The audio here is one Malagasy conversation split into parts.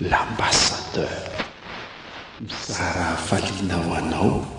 L'ambassadeur mizara hafaliana ho anao.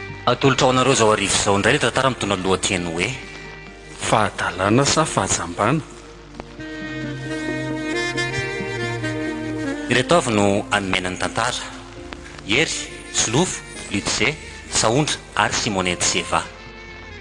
Atolotra ho anareo izao hariva izao indray ilay tantara mitondra ny lohateny hoe. Fahadalana sa fahajambana? Ireto avy no hanome aina ny tantara, Hery, Solofo, Lutzé, Sahondra ary Simone Dzeva.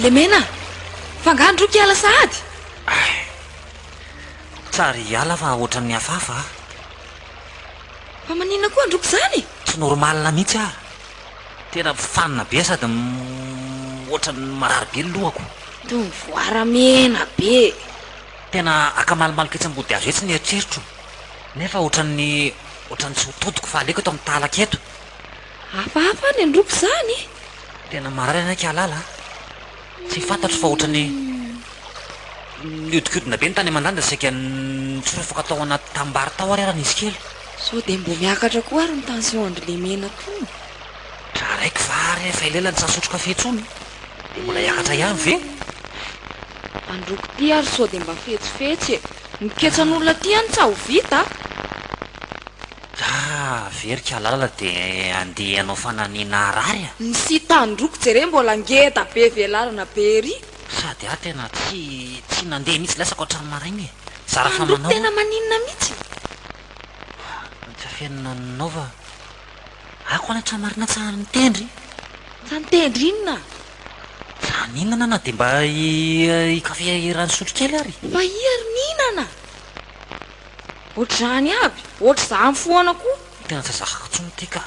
Lemena, fa angaha androy ka hiala sahady? Tsara hiala fa ohatran'ny hafahafa aho. Fa maninona koa androy ka izany? Tsy normalina mihitsy aho. Tena mifanina be sady ohatran'ny marary be ny lohako. Toy ny voara mena be. Tena akamalomaloka etsy am-body hazo etsy ny eritreritro, nefa ohatran'ny ohatran'ny tsy ho todiko fa aleoko eto amin'ny tahalaka eto. Hafahafa ny androko izany e! Tena marary ianao Kialala a! Tsy fantatro fa ohatran'ny nihodinkodina be ny tany aman-danitra saika nitsorafaka tao anaty tanimbary tao ary arany izy kely. Sao dia mbo miakatra koa ary ny tension-dry Lemena tony? Tra raiky va ary efa elela tsy nasotro kafe intsony? Dia mbola hiakatra ihany ve? Androko ty ary sao dia mba fetsifetsy e! Miketsa an'olona ty any tsa ho vita a! Ka very kalala de andeha hanao fanamiana harary a! Msi tandroko jereo mbola ngeda be velarana be ery. Sady aho tena tsy tsy nandeha mihitsy latsako hatramin'ny maraina e! Zara fa Tandroko manao a! tena maninona mihitsy. Tsy afeno nanaova ako any hatramin'ny marina tsy any mitendry. Ka nitendry inona? Za nihinana na dia mba i kafe rano fisotro kely ary. Fa iha ry nihinana? Ohatr'izany aby, ohatr'izany foana koa. Tena tsy zakako intsony ity ka.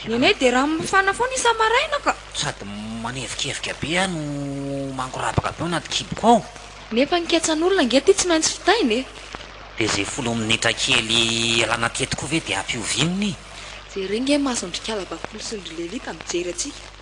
Ny anay dia rano mafana foana isa-maraina ka. Sady manevikevika be aho no mangorabaka be ao anaty kiboko ao. Nefa ny ketsan'olona ange ity tsy maintsy fitaina e! Dia izay folo minitra kely alana teto koa ve dia ampihoviana e? Jereo ange ny masondrikala bakoly sy ondry lelita mijery antsika.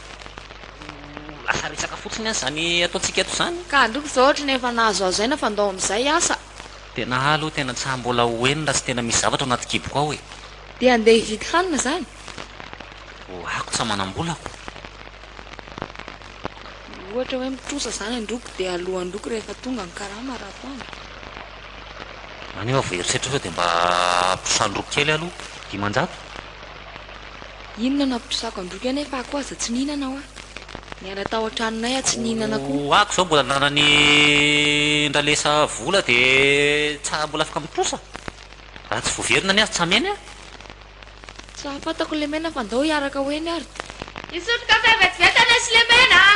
Lasa resaka fotsiny aza izany ataontsika eto izany. Ka aleo izao ohatra ny efa nahazoazo aina fa ndao amin'izay asa. Tena ahy aloha tena tsy haha mbola ho eny raha tsy tena misy zavatra ao anaty kiboko ao e. Dia handeha hividy hanina izany? Hohako tsy amanam-bolako. Ohatra hoe mitrosa izany an-droko dia aloa an-droko rehefa tonga ny karama raha toa ny. Maneho avo herisetra sao dia mba trosan-droko kely aloha. Dimanjato? Inona no hampitrosako an-droky anay fa akoho aza tsy nihinana aho a! Niala tao an-tranonay aho tsy nihinana akoho. Ho ahy zao mbola ananan'i Ndalesa vola de tsa mbola afaka mitrosa? Raha tsy voaverina anie aza tsy hameno e! Tsa fantako Lemena fa ndao hiaraka ho eny ary. Hisotro kafe vetivety anay sy Lemena a!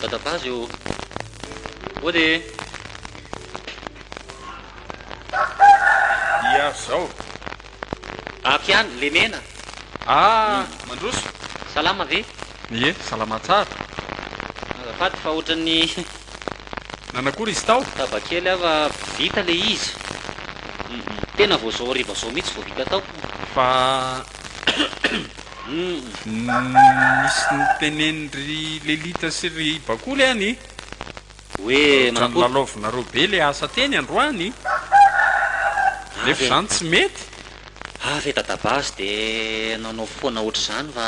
Dadabazy ô! Mody e! Ia zao. Ato ihany, lemena. Ah, mandroso. Salama ve? Ie, salama tsara. Azafady fa ohatran'ny Nanakory izy tao? Taba kely aho fa vita le izy. Tena vao zao hariva zao mihitsy vao vita tao. Fa nisy niteneny ry Lelita sy ry Bakoly an i. Hoe manakôry? Ohatran'ny lalaovinareo be le asa teny androany. Nefa izany tsy mety. Avy e Dadabazy dia nanao foana ohatr'izany fa.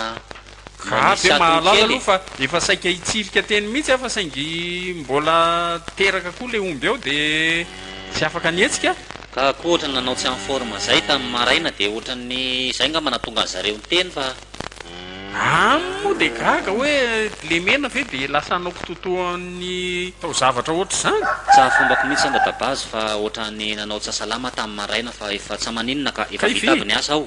Ka dia mahalala aloha fa efa saika hitsirika teny mihitsy aho fa saingy mbola teraka koa le omby ao dia tsy afaka nihetsika. Ka koa ohatran'ny nanao tsy en forme zay tamin'ny maraina dia ohatran'ny izay ngamba nahatonga anzareo niteny fa. Aminy moa dia gaga hoe lemena ve dia lasa hanao kitoatoan'ny taozavatra ohatr'izany? Tsy hahafombako mihitsy aho Dadabazo fa ohatran'ny nanao tsy asalama tamin'ny maraina fa efa tsa maninona ka efa vita aby ny asa aho.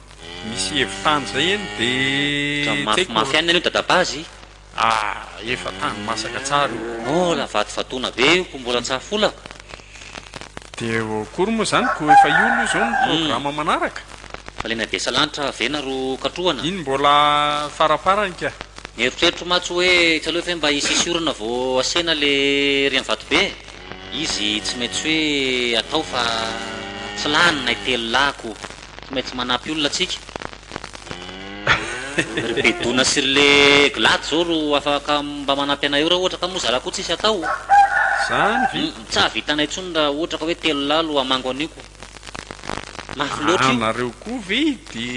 Misy hevi-tany izay eny de tsy haiko. Mafimafy any aloha dadabazy. Ah efa tany masaka tsara io. Mbola vatovatona be io ko mbola tsa fola. De akory moa zany ko efa io aloha izao ny programa manaraka. Fa le nadia salanitra ve na ro katrohana. Iny mbola faraparany ka. Nieritreritro matsy hoe tsy aleo ve mba hisisy orana vao asena le rian vato be e. Izy tsy maintsy hoe atao fa tsy lany nay telo lahy ko. Tsy maintsy manampy olona tsika. Ry Bedona sy ry le glady zao ro afaka mba manampy anay eo ra ohatra ka moa zara koa tsisy atao o. Zany ve? Tsy hahavitanay intsony ra ohatra ka hoe telo lahy lo hamango an'io ko. Mafy loatra io. Aa nareo koa ve de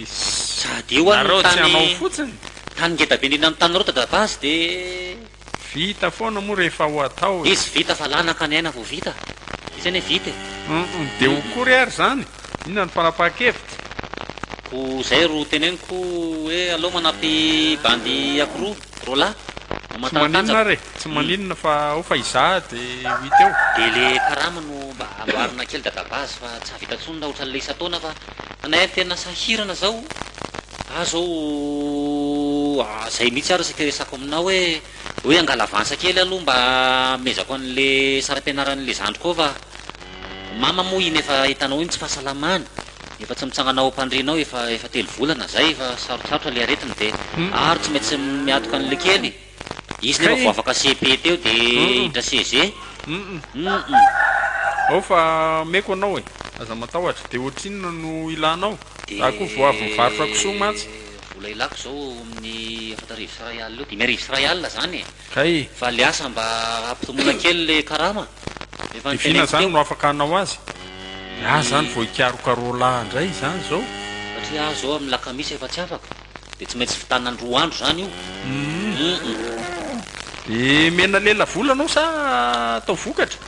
Sady io an ny tany. Nareo tsy hanao fotsiny? Tany ngeda be indrindra ny taninareo tadabasy de. Vita foana moa rehefa ho atao e. Izy vita fa lanaka ny aina vao vita. Izy anie vita e. Humm dia ho kory ary izany? Inona no fanapahan-kevitra? Ko zay ro teneniko hoe aleo manampy bandy ako roa, roa lahy, no Tsy maninona matantanjaka. ary e, tsy maninona fa ao fa izaho dia ho hita eo. Dia le karama no mba amboarina kely dadabazy fa tsy hahavita intsony raha ohatran'ilay isan-taona fa anay tena sahirana zao. Za zao zay mihitsy ary seke resako aminao hoe hoe angala avance kely aloha mba amezako anle sarampianaranle zandriko ao va? Mama moa iny efa hitanao iny tsy fahasalamany efa tsy mitsangana ao ampandriana ao efa efa telo volana zay efa sarotsarotra le aretiny de ary tsy maintsy miatoka anle kely. Izy nefa vao afaka cepe teo de hiditra CEG. Ao fa ameko anao e. Aza matahotra. De ohatrinona no ilanao? Za koa vao avy nivarotra kisoa mantsy. Vola ilako zao amin'ny efatra arivo sy iray alina eo, dimy arivo sy iray alina zany e. Kay. Fa le asa mba ampitomoina kely le karama. Efa niteneniko teo. Divina zany no afaka hanao azy? Za zany vao hikarokarolà ndray zany zao. Satria aho zao amin'ny lakamisy efa tsy afaka. Dia tsy maintsy vitanany roa andro izany io. Umm. Dia mena lela vola anao sa atao vokatra?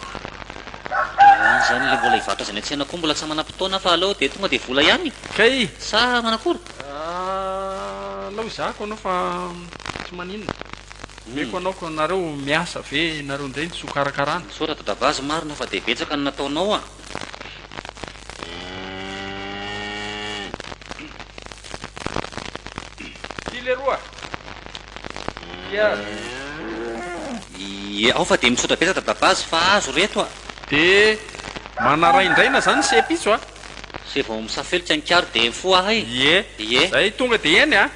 Dia any izany ilay mbola hivarotra azy any an-tsena koa mbola tsy amanam-potoana fa aleo dia tonga dia vola ihany Kay. sa manakory? Alao hizahako anao fa tsy maninona. Omeko anao ka nareo miasa ve nareo indray ny soa karakarana. Misaotra dadabazy marina fa dia betsaka ny nataonao a! Ty leroa. Iyaa. Iyaa ao fa dia misaotra betsaka Dadabazy fa azo reto a! Dia manaraindraina zany se pitso a! Se vao misafelika ny karo dia mifoha ahay! Iee! Iee! Zay tonga dia eny a!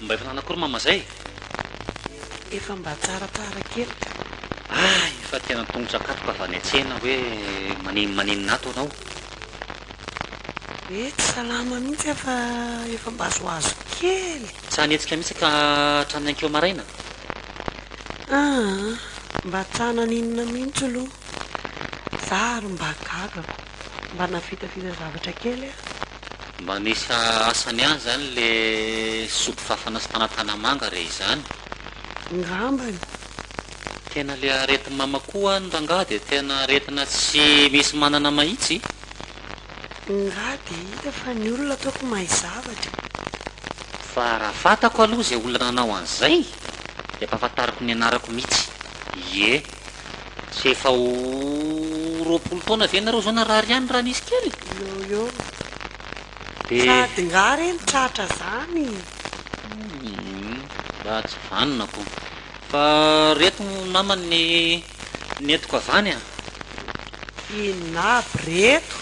Mba efa nanakôry mama zay? Efa mba tsara tsara kely ka. Ah, efa tena tongotra katy ka avy any an-tsena hoe manino maninona ato anao. Hoe tsy salama mihitsy aho fa efa mba azoazo kely. Tsy hanetsika mihitsy ka hatramin'ny ankeo maraina? Ah, mba tsy hananinona mihitsy aloha. Za ary mba gaga ko. Mba navitavita zavatra kely a. Mba misy asany ihany zany le soupe fafana sy tanatanamanga re izany? Ngambany. Tena le aretin mama koa an rangaha de tena aretina tsy misy manana mahitsy? Ngah de hita fa ny olona ataoko mahay zavatra e. Fa raha fatako aloha izay olona nanao an'izay dia ampahafantariko ny anarako mitsy. Ie. Tsy efa ho roapolo taona ve nareo zao narary ihany raha nisy kely? Yoyo. Dia. Sady nga re ny tratra zany? Humm. Mba tsy vanona ko. Fa reto namany ny nentiko avy any a. Inona aby reto?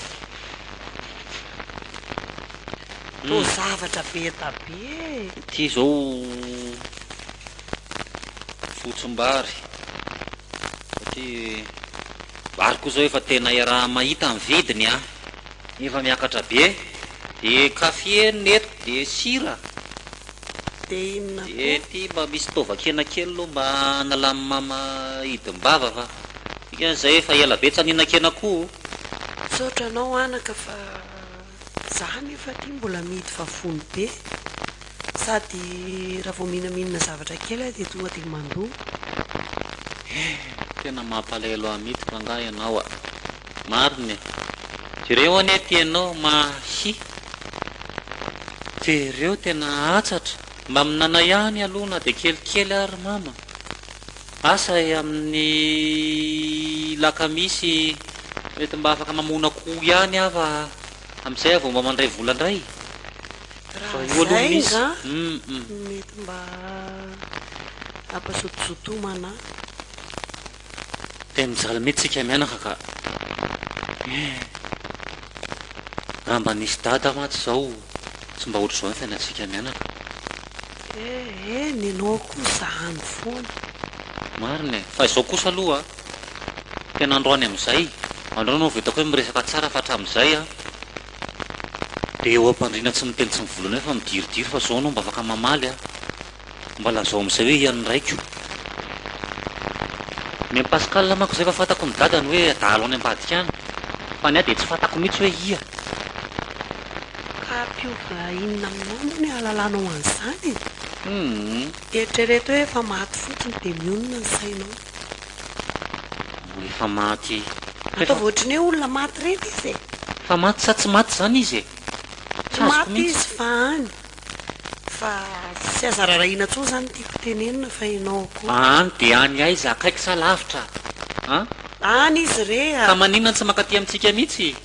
Toa zavatra be ta be e. Ity zao. Fotsim-bary, satria vary koa izao efa tena iaraha mahita ny vidiny an! efa miakatra be, dia café ny eto, dia sira, Dia inona dia koa? ity mba misy taovan-kena kely aloha mba hanalan'i mama hidim-bava fa dikany izay efa ela be tsy naninan-kena akoho. Misaotra anao anaka fa. Za anefa aty mbola mihidy vavony be sady raha vao minaminina zavatra kely aho dia tonga dia mandoa eh. Tena mampalahelo ahy mitsy fa nga ianao a! Marina e! Jereo anie ity ianao mahi Jereo tena atsatra! Mba minana ihany aloha na dia kelikely ary mama! Asa e amin'ny lakamisy mety mba afaka mamono akoho ihany aho fa amin'izay aho vao mba mandray vola indray fa io aloha misy hum. Mety mba ampazotozotomana ahy. Dia mijaly mihitsy tsika mianaka ka eh! Raha mba nisy dada mantsy izao. Tsy mba ohatr'izao ny fiainantsika mianaka. Eh eh, ny anao kosa any foana. Marina e, fa izao kosa aloha tena androany amin'izay, androany vao hitako hoe miresaka tsara fa hatramin'izay an, dia eo am-pandriana tsy miteny tsy mivolana eo fa midiridiry fa izao anao mba afaka mamaly an. Mba lazao amin'izay hoe ian'ny raiko. Ny an'i Pascal manko izay efa fantako ny dadany hoe adala any ambadika any. Fa ny ahy dia tsy fantako mihitsy hoe ia. Ka hampiova inona aminao moa ny hahalalanao an'izany e? Hum. Eritrereto hoe efa maty fotsiny dia mionona ny sainao. Mbola efa maty. Ataovy ohatran'ny hoe olona maty ireny izy e. Efa maty sa tsy maty izany izy e? Tsy azoko mihitsy. Tsy maty izy fa any. Fa tsy aza rarahina intsony zany tiako tenenina fa enao ko. Aany de any aiza? Akaiky sa lavitra an? Any izy re a! Ka maninona tsy mankaty amintsika mitsy?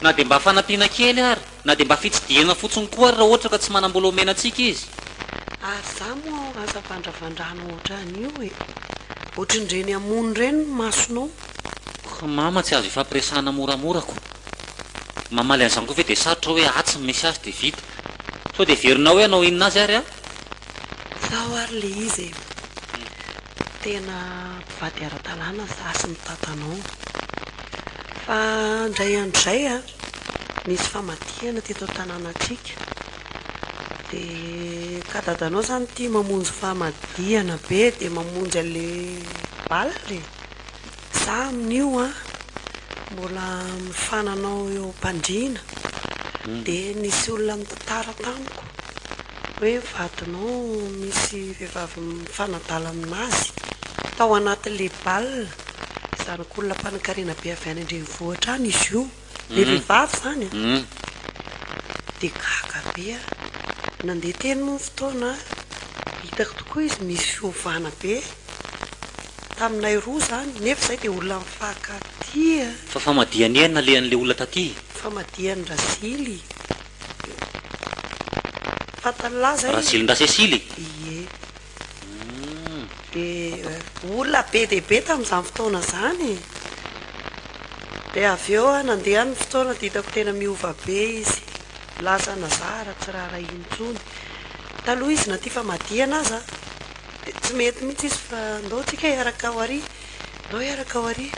Na de mba fanampiana kely ary, na de mba fitsidihana fotsiny koa ary raha ohatra ka tsy manam-bola omena antsika izy. Ary za moa aza vandravandrana ohatran'io e! Ohatrin'ireny hamono ireny ny masonao. Ko mama tsy azo ifampiresahana moramora ko. mamaly an'izany koa ve dia sarotra hoe atsy ny misy azy dia vita. Sao dia heverinao hoe hanao inona azy ary aho? Tsaho ary ilay izy e! Tena mpivady ara-dalàna izaho sy ny dadanao. Fa indray andro izay nisy famadihana teto an-tanànantsika. Dia ka dadanao izany tia mamonjy famadihana be dia mamonjy an'ilay bala e! Za amin'io an, mbola mifananao eo am-pandriana, dia nisy olona nitantara tamiko hoe vadinao misy vehivavy mifanadala aminazy tao anaty le bal, zanak'olona mpanankarena be avy any an-drenivohitra any izy io. Dia vehivavy izany an! Dia gaga be aho. Nandeha teny moa ny fotoana, hitako tokoa izy misy fiovana be taminay roa izany, nefa izahay dia olona mifankatia. Fa famadihany iha nalehan'ilay olona taty? Famadihani-dRasily. Fantany lahy izay e! Rasilin-dRasesily? Ie. Dia olona be dia be tamin'izany fotoana izany. Dia avy eo nandeha ny fotoana dia hitako tena miova be izy. Lasa nazara, tsy raharaha intsony. Taloha izy na tia famadihana aza dia tsy mety mihitsy izy fa ndao tsika hiaraka ao ary, ndao hiaraka ao ary.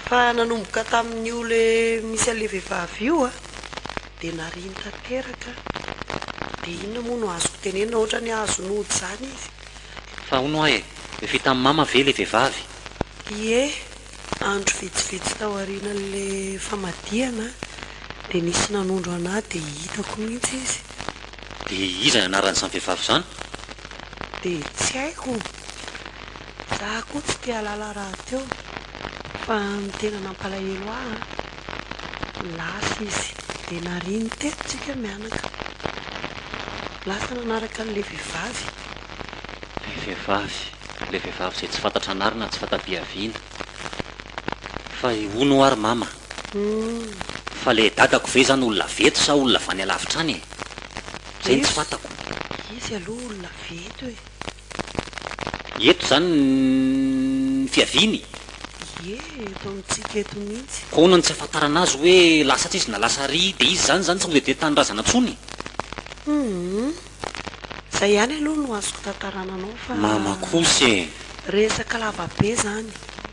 Fa nanomboka tamin'io ilay misy an'ilay vehivavy io. Dia nariany tanteraka. Dia inona moa no azoko tenenina, ohatrany azo nody izany izy. Fa hono hoa e, lefy tamin'i mama ve ilay vehivavy? Ie, andro vitsivitsy tao aorianan'ilay famadihana dia nisy nanondro an'ahy dia hitako mihitsy izy. Dia iza anaran'izany vehivavy izany? Dia tsy haiko. Za koa tsy te-hahalala rahateo. Fa ny tena nampalahelo ahy Lasa izy dia nariany teto tsika mianaka. Lasa nanaraka an'ilay vehivavy. Ilay vehivavy, ilay vehivavy izay tsy fantatra anarana ary tsy fanta-bihaviana. Fa i Hono ho'a ry Mama? Humm. Fa ilay dadako ve izany olona avy eto sa olona avy any alavitra any e? Izay no tsy fantako. Izy aloha olona avy eto e. Eto izany ny fiaviany? Ie, eto amintsika eto mihitsy. Koa ahoana no tsy ahafantarana azy hoe lasa atsy izy na lasa ary? Dia izy izany izany tsy mody dia tanindrazana intsony? Humm. Izay ihany aloha no azoko tantarana anao fa. Mama kosa e! Resaka lava be izany.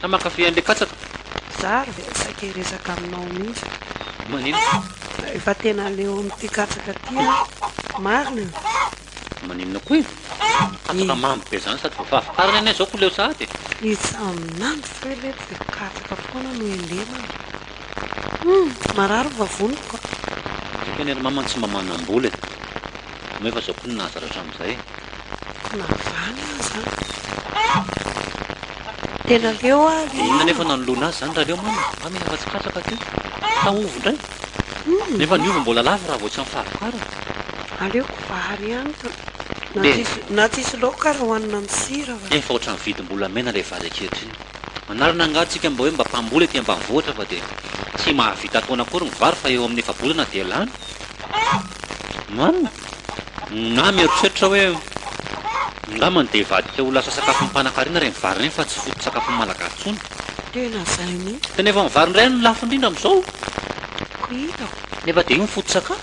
Sa mankafy an'le katsaka? Za ary dia saika hiresaka aminao mihitsy e! Maninona? Rehefa tena leo amin'ity katsaka ty aho, marina e! Maninona koa e? Katsaka mamy be zany sady vafafa farany anie zao ko leo sahady e! It's a mnandy fa ilay tsy dia katsaka foana no helemana. Humm! Marary ny vavoniko a! Saika anie ry mama tsy mba manam-bola e! Moa efa zao koa no nahazatra hatramin'izay e! Ka nahavany aho izany. Tena leo aho ry mama. Inona anefa no nanoloana azy izany rahaleo mama a? Mila afa-tsy katsaka ty. Ka ovy indray? Nefa ny ovy mbola lafo raha vao tsy amim-pahavokarana. Aleoko vary ihany ka. Na tsisy laoka ary hohanina amin'ny sira fa. Efa ohatran'ny vidim-bolamena ilay vary ankehitriny. Manarina angaha tsika mba hoe mba mpamboly ety ambanivohitra fa dia tsy mahavita ataona akory ny vary fa eo amin'ny efa-bolana dia lany? Marina? Na mieritreritra hoe, Angambany dia hivadika ho lasa sakafon'ny mpanankarena ireny vary ireny fa tsy foto-tsakafon'ny Malagasy intsony. Tena izay mihitsy. Tena efa ny vary indray no lafo indrindra amin'izao. Koa hitako. Nefa dia io no foto-tsakafo.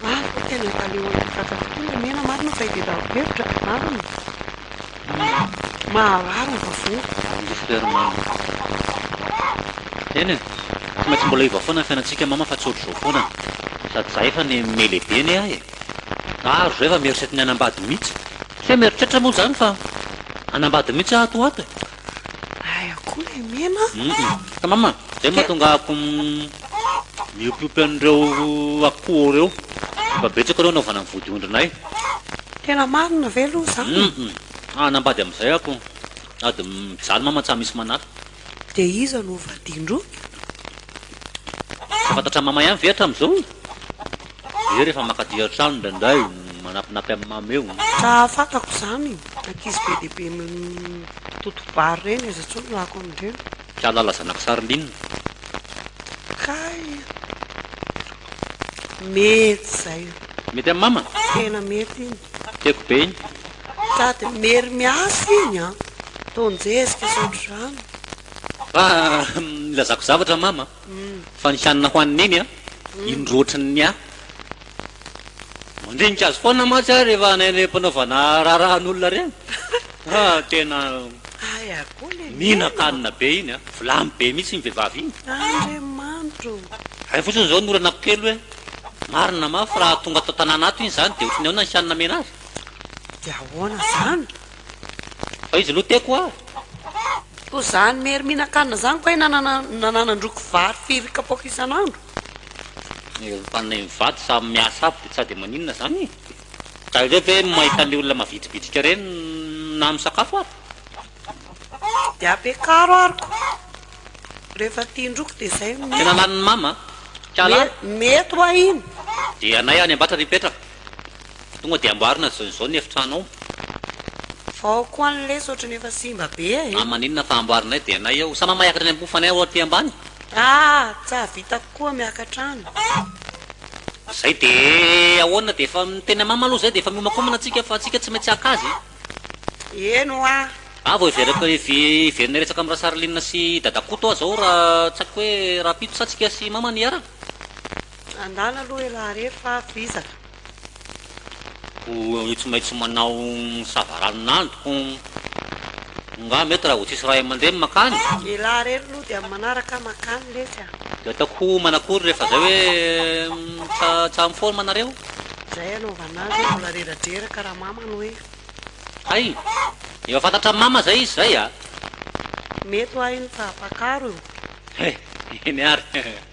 Maro no tena efa leo hanafatra tokoa ilay mena marina fa ity tafo-kevitra, marina. Maharary ny vafoa. Ry frère mama. Eny e, tsy maintsy mbola hiova foana ny fiainantsika mama fa tsy ohatr'izao foana an. Sady za efa ne me lehibe ne ahy e. Ary zay va mieritreritry ny hanambady mihitsy. Tsy hoe mieritreritra moa zany fa hanambady mihitsy aho ato ho ato e. Aiah koa lay mena a. Hum ka mama, zay mahatonga ahako miopiopy an'ireo akoho reo. Efa betsaka reo anaovana ny vodiondrinay. Tena marina ve aloha zany? Humm hanambady amizay ako sady mijaly mama tsa misy manala. De iza no hovadian-droa? Tsy fantatra mama ihany ve hatramizao e? Dia rehefa makaty an-trano indraindray manapinapy amin'i mama eo. Raha fantako izany, ankizy be dia be mitoto-bary ireny aza intsony lako amin'ireny. Kialala zanak'i Sarline. Kay aloha. Mety zay io. Mety am mama? Tena mety iny. Tiako be iny. Sady mery miasa iny an. Tonjezika sy ohatr'izany. Fa nilazako zavatra mama. Fa ny hanina hohanin'i Neny an, indro ohatran'ny ahy. Mandinika azy foana mantsy aho rehefa hanen'ny mpanaovana raharahan'olona ireny. Ha, tena mihinan-kanina be iny an, vilany be mihitsy iny vehivavy iny. Hay fotsiny izao ny olanako kely hoe marina mafy raha tonga ato an-tanàna ato iny izany dia ohatran'ny ahoana ny hanina amena azy? Dia ahoana izany? Fa izy lo teko a! Ko zany mery mihinan-kanina zany ko hay nananandroko vary firy kapoaka isan'andro? Ny olom-pananay mivady samy miasa aby de tsa de maninona zany e! Ka aleo ve mahita anle olona mavitribitrika reny na misakafo ary? De apekaro ary ko refa tian-droko de zay no mety. Tena lanin'ny mama a! Ka la. Mety wa iny. Dia anay any ambatra ry hipetraka. Tonga dia amboarina izao izao ny efitranao. Fa ao koa ny lesy ohatran'ny efa simba be e. Amin'ny maninona fa amboarinay dia anay ao. Sa mamay akatra ny ambofanay ao aty ambany? Ah! Tsa vitako koa miakatra any. Izay dia ahoana dia efa miteny amama aloha izay dia efa miomakomana tsika fa tsika tsy maintsy haka azy e. Eny hoa. Ah! Vao hiveriko hiverina hiresaka amin'i Rasarline sy i Dadakoto aho izao raha tsaiko hoe rahampitso sa tsika sy mama no hiaraka? Andala aloha e raha re fa vizaka. Koa tsy maintsy manao sava ranonando koa nga mety raha vao tsisy ray aman-dreny makany? Elah re lou dia amin'ny manaraka makany lesy a. Dia ataoko manakory rehefa zay hoe tsa tsa miforma nareo? Zay anaovana azy hoe mbola reradreraka raha mama no hoe. Hay! Efa fantatra mama zay izy zay a! Mety ho ahy iny fa mpakaro io. He! Eny ary.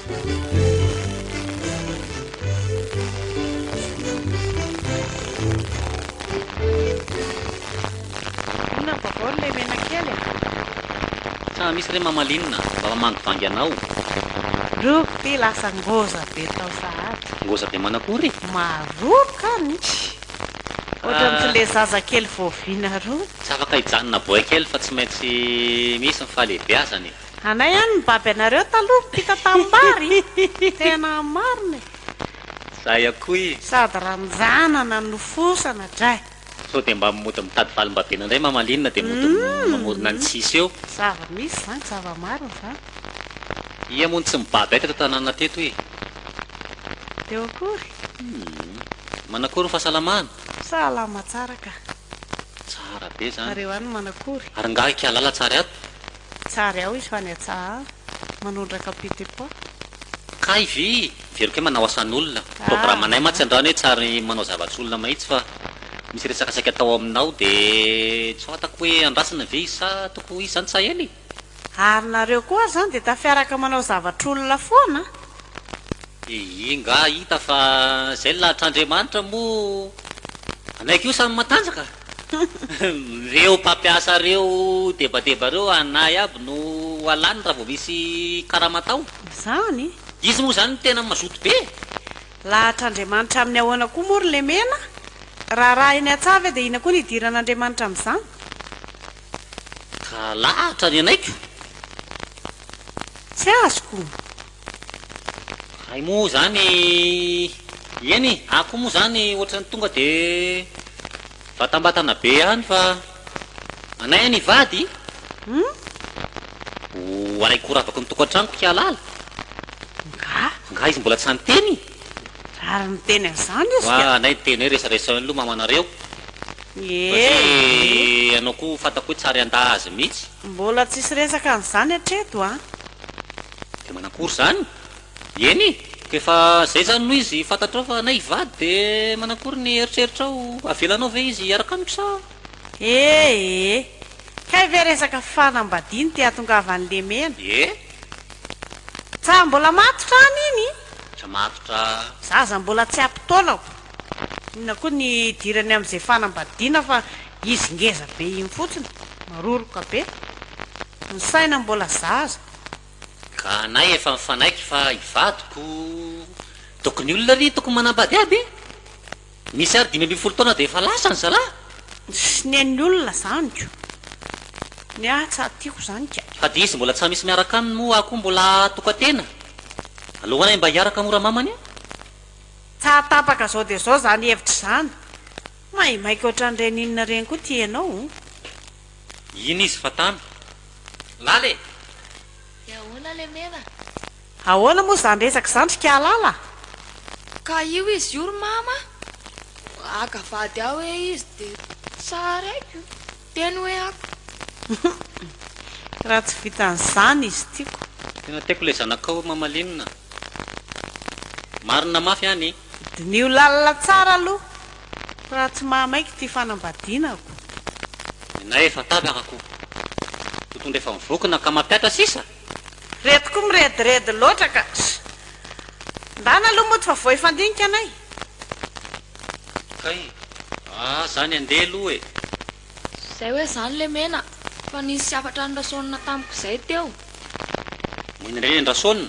Tsa misy re mamalinina mba mamangivangy anao. Roky ty lasa ngoza be tao sahady. Ngoza be manakory? Maroka an misy ohatran'ny tsy le zaza kely voaviana rony. Tsy afaka hijanona boay kely fa tsy maintsy misy ny fahalehibeazana e. Anay any nibaby anareo taloha mpita tanimbary tena marina e. Zay akoy. Sady ranjanana no fosana dray. Sao dia mba mody mitady valim-babena indray mamalinina dia mody mamorona ny tsisy eo. Zava misy zany zava marina zany. Ia moa no tsy mibaby ahy teto an-tanàna teto e. Teo akory. Hum. Manakory ny fahasalamana? Salama tsara ka. Tsara be zany. Nareo any Manakory? Ary ngaha i Kialala tsary ato? Tsary ao izy fa ny atsahà manondraka petit pois. Kay vy very kay manao asan'olona. Programanay mantsy androany hoe tsary manao zavatr'olona mahitsy fa misy resaka saika atao aminao de tsy fantako hoe andrasana ve izy sa toko ho izy zany Tsahely? Ary nareo koa ary zany de tafiaraka manao zavatr'olona foana a! De ingahy hita fa zay ny lahatr'Andriamanitra moa anay koa samy matanjaka. Reo mpampiasa reo debadeba reo anah iaby no alany raha vao misy karama atao. Izany? Izy moa izany no tena mazoto be e! Lahatr'Andriamanitra amin'ny ahoana koa moa ry Lemena? Raha arahiny an-tsaha ve dia inona koa ny hidiran'Andriamanitra amin'izany? Ka lahatra ny anay ko! Tsy azoko! Hay moa zany eny e, ahy koa moa zany ohatrany tonga de vatambatana be ihany fa anay any hivady ho aray koa ravaky ny tokantranoko hialala Nga? Nga izy mbola tsy any teny? Ary miteny an'izany izy ka! Wa anay miteny hoe resaresao eny loha mamanareo satria ianao koa fantako hoe tsy ary handà azy mihitsy. Mbola tsisy resaka an'izany hatreto an! Dia manakory izany? Eny, koa efa izay izany no izy fantatrao fa anay hivady dia manakory ny eritreritrao? Avelanao ve izy hiaraka amiko sa? Ee, kay ve resaka fanambadiany te hahatongavan'i Lemena? Ee. Tsa mbola matotra any iny? Tsa matotra. Za aza mbola tsy ampy taonako. Inona koa ny hidirany amin'izay fanambadiana fa izy ngeza be iny fotsiny, maroroka be. Ny saina mbola zaza. Ka anay efa mifanaiky fa i vadiko tokony olona ry tokony manambady aby e! Nisy ary dimy ambin'ny folo taona dia efa lasa ny zalahy. Tsy ny an'ny olona zany ko! Ny ahy tsa tiako zany ka! Fa dia izy mbola tsa misy miaraka aminy moa aho koa mbola tokatena? Aleo anay mba hiaraka mora mamany a! Tsa tapaka zao dia zao zany hevitra zany! Maimaika otran'ireny inona ireny koa ty ianao? Iny izy fa tamy. Lala e! De ahoana le mena? Ahoana moa zany resaka zany ry kialala? Ka io izy io ry mama haka vady aho hoe izy de tsar aiko teny hoe ako. Raha tsy vitan'izany izy tiako. Tena tiako le zanakao mamalinina. Marina mafy an i. Diniho lalina tsara aloha raha tsy mahamaiky ity fanambadianako. Nenay efa tabaka ko. Totondra efa mivokona ka mampiatra sisa? Reto ko mirediredy loatra ka. Ndana aloha mody fa vao hifandinika anay. Kay ah zany andeha aloha e. Zay hoe zany lemena fa nisy hafatra nirasaonina tamiko zay teo. Neny re ny rasaonina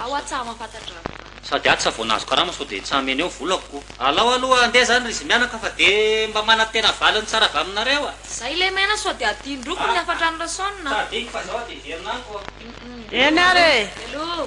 Ao aho tsa mampatandrava izany. Sady aho tsa vao nahazo karama sao dia tsa hameno eo ny volako ko. Alao aloha handeha izany ry Zimianaka fa dia mba manantena valiny tsara avy aminareo a! Izay lemena sao dia adinoko ny hafantrano Rason a! Tsa adinoko fa izao aho dia very namako a! Eny ary e! Veloma!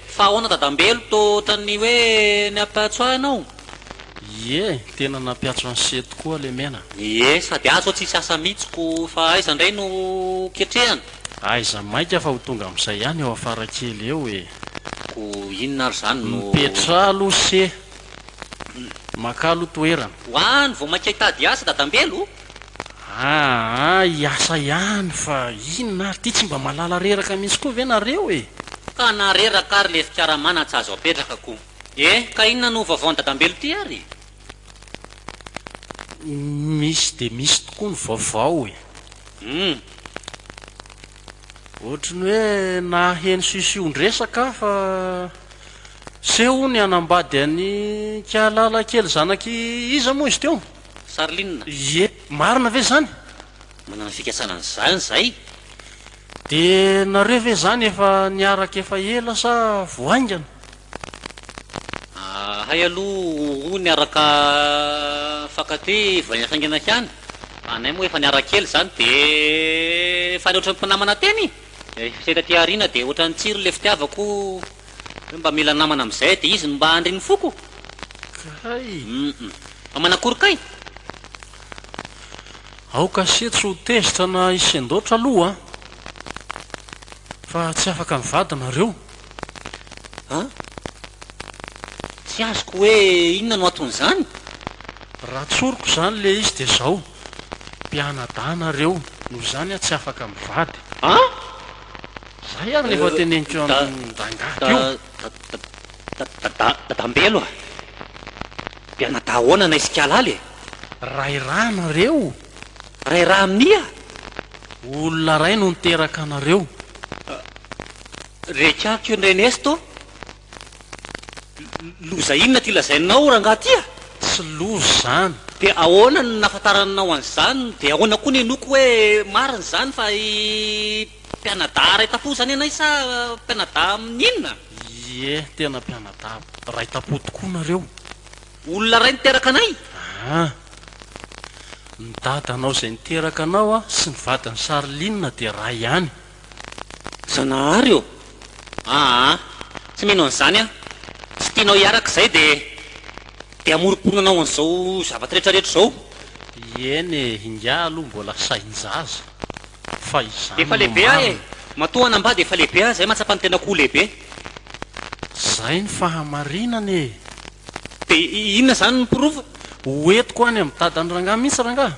Fa ahoana dadambelo to otran'ny hoe niapiatso ahy ianao? Ie, tena napiatso an'i She tokoa Lemena. Ie, sady ahy zao tsisy asa mitsy ko fa aiza ndray no ketrehana? Aiza maika fa ho tonga amizay ihany eo afara kely eo e! Ko inona ary zany no. Mipetraha aloha She! Makalo toerana. Ho any vao maika hitady asa dadambelo? Aa hiasa ihany fa inona ary ity tsy mba malala reraka mintsy koa ve nareo e. Ka na reraka ary le fikaramana tsy azo apetraka ko. Eh ka inona no vaovaon dadambelo ty ary? Misy dia misy tokoa ny vaovao e. Hum. Ohatry ny hoe naheno sision-dresaka aho fa seho hono hianambady an'i Kialala kely zanak'i iza moa izy teo? Sarline. Ie, marina ve izany? Manana fikasana an'izany izahay. Dia nareo ve izany efa niaraka efa ela sa vao haingana? Ahay aloha roa niaraka fankaty vao haingana ihany. Anay moa efa niaraka ela izany dia efa nihoatra ny mpinamana teny e! Ilay fiseha taty aoriana dia ohatran'ny tsiry ilay fitiavako. Hoe mba mila namana amin'izay dia izy no mba handry ny foko? Kay! Hum! Fa manakory kay? Aoka ase tsy ho tezitra na hisendaotra aloha an! Fa tsy afaka mivady nareo? An? Tsy azoko hoe inona no anton'izany? Raha tsoriko izany ilay izy dia izao, mpianadahy nareo, noho izany aho tsy afaka mivady. An? Zay ary ny efa teneniko amin'ny rangahy teo. Dadambelo a! Mpianadahy ahoana anay sy Kialala e? Ray raha anareo? Ray raha amin'ia? Olona ray no niteraka anareo. Reka aky io Nrenesto Loza inona ity lazainao rangaha ity a? Tsy loza izany. Dia ahoana no nahafantaranao an'izany? Dia ahoana koa ny henoko hoe marina izany fa i mpianadahy Raitapo izany anay sa mpianadahy amin'ny inona? Ie, tena mpianadahy Raitapo tokoa nareo. Olona iray niteraka anay? Aa. Ny dadanao izay niteraka anao sy ny vadin'i Charline dia iray ihany. Zanahary ô! Aa! Tsy mino an'izany aho! Tsy tianao hiaraka izay dia dia hamoromporona anao an'izao zavatra rehetra rehetra izao? Eny e! Ingahy aloha mbola sain-jaza fa izany Efa no lehibe aho e! marina. Matoa hanambady efa lehibe aho izay mahatsapa ny tenako ho lehibe. Izay no fahamarinana e! Dia inona izany no porofo? Ho entiko any amin'ny dadan'i rangahy mihitsy rangahy.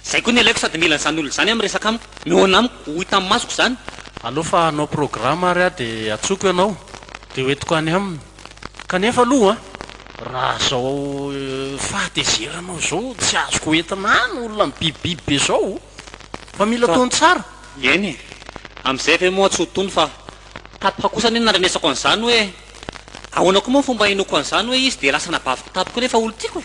Zay koa ny alaiko sady mila an'izany olona izany amin'ny resaka amiko. Mihaona amiko, ho hita amin'ny masoko izany. Aleo fa hanao programa ary aho dia atsoko ianao dia ho entiko any aminy. Kanefa aloha raha izao fahatezeranao izao tsy azoko ho entina any olona mibibibiby be izao fa mila tony tsara. Eny e! Amin'izay ve moa tsy ho tony fa. Tato ha kosa anie nandrenesako an'izany hoe. Ahoana koa moa ny fomba hinoako an'izany hoe izy dia lasa anabaviko tamiko nefa olo tiako e?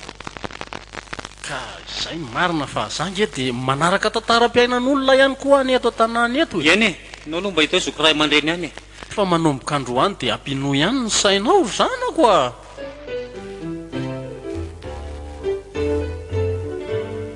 Ka izay no marina fa za nge dia manaraka tantaram-piainan'olona ihany koa any eto an-tanàna eto e! Eny e! Nao aloha mba hita hoe zoky ray aman-dreny ihany e! Fa manomboka androany dia ampinoa ihany ny sainao ry zanako a!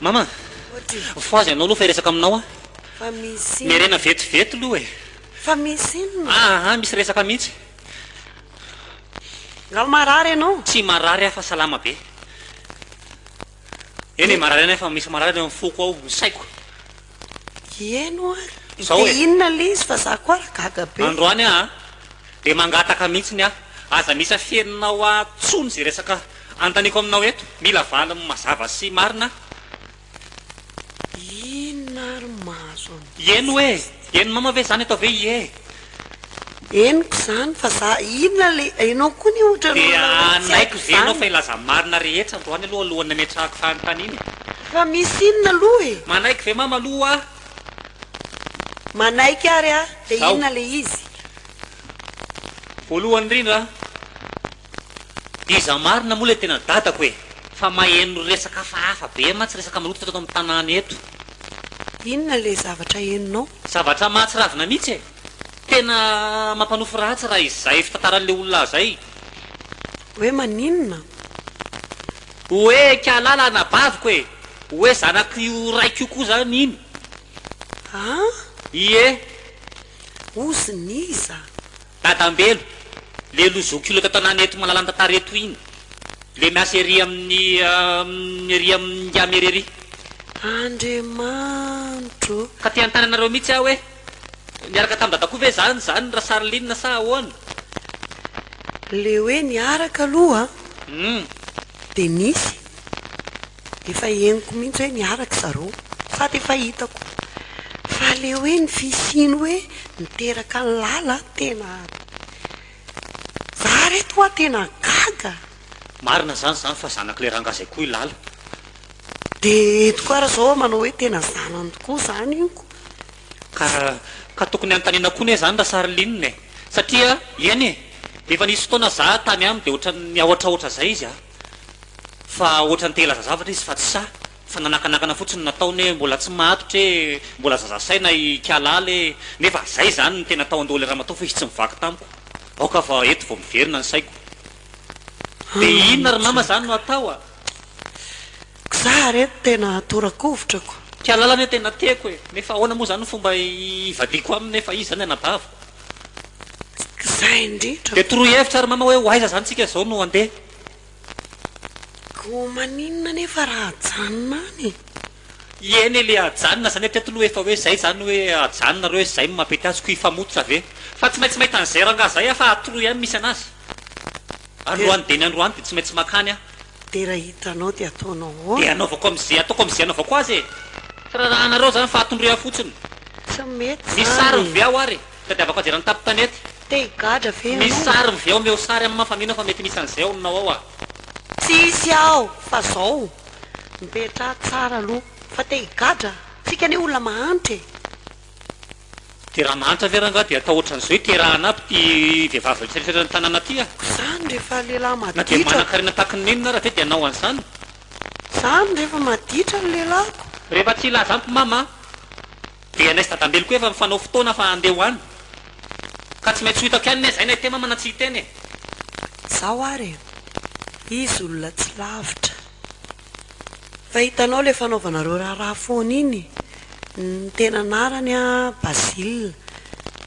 Mama, voa azy ianao aloha fa hiresaka aminao aho. Miharena vetivety aloha e. Fa misy inona? Aa, misy resaka mihitsy. Angaha marary ianao? Tsy marary aho fa salama be. Eny e, marary ihany aho fa misy marary eo amin'ny foko ao, ny saiko. Ie no ary. Zao e. Dia inona le izy fa za koa ary gaga be. Androany aa dia mangataka mihitsiny aho aza misy afeninao ahy tsony izay resaka anontaniako aminao eto, mila valiny mazava sy marina aho. Inona ary mahazo an'i Ie no e. Ien'i mama ve izany atao ve ie. Henoko izany fa za inona le enao koa ny ohatran'ny olona hoe tsy haiko izany. Dia hanaiky ve ianao fa hilaza ny marina rehetra androany aloha alohan'ny hametrahako fanontaniana e? Fa misy inona aloha e? Manaiky ve mama aloha aho? Manaiky ary aho, dia inona le izy? Voalohany indrindra, Iza marina moa le tena dadako e? Fa maheno resaka hafahafa be mantsy resaka mirototra teto amin'ny tanàna eto. Inona ilay zavatra henonao? Zavatra mahatsiravina mihitsy e! Tena mampanofy ratsy raha izay fitantaran'ilay olona azy ay. Hoe maninona? Hoe kialala anabaviko e! Hoe zanak'io raiko io koa zany iny. An? Ie. Ozin'iza? Dadambelo, le lo zokiolona tantanana eto Malalan-tantara eto iny, le miasa ery amin'ny amin'ny ery amin'ny Ngama ery ery. Andriamanitro ô! Ka te hanontany anareo mihitsy aho hoe niaraka tamin'i Dada koa ve zany izany Rasaroline sa ahoana? Le hoe niaraka aloha an! Hum. Dia nisy. Efa henoko mihitsy hoe niaraka zareo sady efa hitako fa le hoe ny fisiany hoe niteraka an'i lala tena za ary eto hoa tena gaga. Marina zany zany fa zanak'ilay ranga zay koa i lala. De eto koa ary zao manao hoe tena zanany tokoa zany inko. Ka ka tokony hanontaniana koa ne zany Rasarinina e satria eny e efa nisy fotoana za tany aminy de ohatran'ny ahotrahotra zay izy a. fa ohatran'ny te hilaza zavatra izy fa tsy sahy fa nanakanakana fotsiny ny nataony hoe mbola tsy matotra e, mbola zaza saina i Kialala e, nefa zay zany ny tena tao an-doha le ramatoa fa izy tsy mivaky tamiko, aoka fa eto vao miverina ny saiko, de inona ry mama zany no atao a! Za re tena torakovotrako. Kialala anie tena tiako e! Nefa ahoana moa zany fomba hivadiako aminy nefa izy zany anabaviko? Zay indrindra. Dia toroy hevitra ry mama hoe ho aiza zany tsika zao no handeha? Ko maninona nefa raha ajanona any e? Ieny e le ajanona zany hatreto lo efa hoe zay zany hoe ajanona reo e zay no mampety azy ko hifamototra ve? Fa tsy maintsy mahita an'izay rangah zay ah fa atoroy any misy anazy. Androany dia ny androany dia tsy maintsy makany aho. Dia raha hitanao dia ataonao ahoana? Dia anaovako amin'izay ataoko amin'izay anaovako azy e! Tsy raharahanareo izany fa atondroy ahy fotsiny. Tsy mety izany e! Misy sary mivehy ao ary tadiavako azy eran'ny tapin-tanety. Te higadra ve ianao? Misy sary mivehy ao, omeo sary amimah fa mino aho fa mety misy an'izay ao ninao ao ah. Tsisy aho fa izao, mipetraha tsara aloha fa te higadra ah! Tsika anie olona mahantra e! De raha mahantra ve rangah de atao otran'izao iterahana aby ty vehivavy rehetra rehetra eran'ny tanàna ty ah. Zany rehefa lehilahy maditra. Na dia manankarena tahaky ny nenina ara ve dia anao an'izany. Zany rehefa maditra ny lehilahiko. Rehefa tsy hilaza amiko mama ah. Dia ianay sy dadambelo koa efa mifanao fotoana fa handeha ho any. Ka tsy maintsy ho hitako ihany ne zay na hiteny mama na tsy hiteny e. Zao ary e. Izy olona tsy lavitra. Fa hitanao ilay fanaovanareo raharaha foana iny, ny tena anarany an, Basile,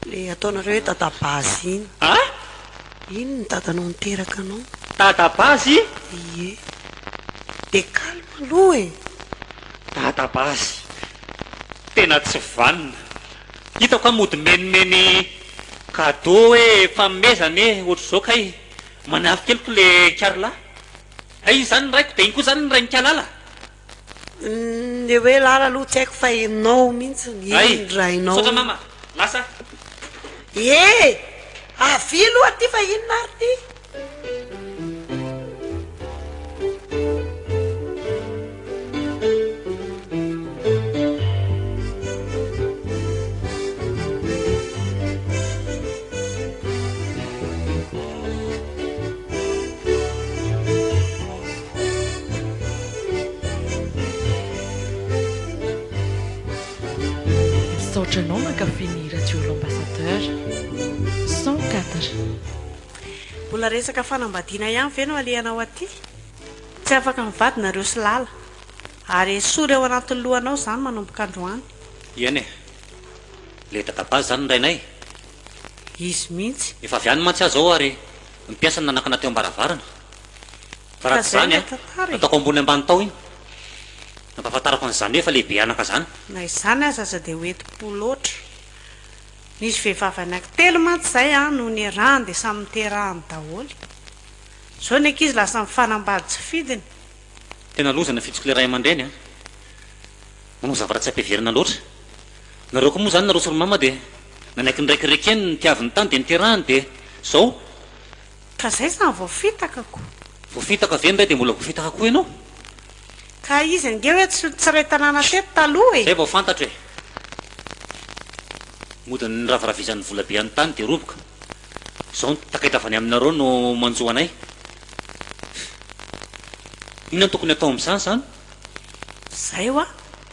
ilay ataonareo hoe Dadabazy iny. Ah! Iny ny dadanao niteraka anao. Dadabazy? Ie. Dia calme aloha e! Dadabazy. Tena tsy vanona. Hitako an mody mimenimeny cadeau hoe fanomezana e, ohatr'izao kay. Manafikeliko ilay Carla. Dia iny izany ny raiko, dia iny koa izany ny rain'Ikalala. Ny hoe Lala aloha tsy haiko fa ianao mihitsy ny Hay, rainao. misaotra mama. Lasa aho. Ee! Avia aloha aty fa inona ary ity? Misaotra anao mankafy ny radio l'ambassadeur cent quatre. Mbola resaka fanambadiana ihany ve no alehanao aty? Tsy afaka mivady nareo sy lala. Ary esory ao anatin'ny lohanao izany manomboka androany. Eny e! Le dadabazy izany ny rainay? Izy mihitsy. Efa avy any mantsy aho izao ary ny mpiasany nanakana teo am-baravarana. Fa raha tsy izany nataoko ambony ambany tao iny. Nampahafantarako an'izany hoe efa lehibe anaka izany. Na izany aza aza dia ho enti-po loatra. Nisy vehivavy anankitelo mantsy izay no niarahany dia samy niterahany daholo. Zao ny ankizy lasa mifanambady tsy fidiny. Tena loza ny fitsiko le ray aman-dreny a! Manao zavatra tsy ampiheverana loatra. Nareo koa moa zany nareo sy ry mama dia nanaiky ny raiky rekeny nitiaviny tany dia niterahany dia zao. Ka zay zany voafitaka ko. Voafitaka ve ny ray dia mbola voafitaka koa ianao? Ka izy ange hoe tsy ray tanàna teto taloha e! Zay vao fantatro e! Mody ny raviravizan'ny volabe any tany dia roboka. Izao ny takaitra avy any aminareo no manjo anay. Inona no tokony hatao amin'izany izany? Izay hoa,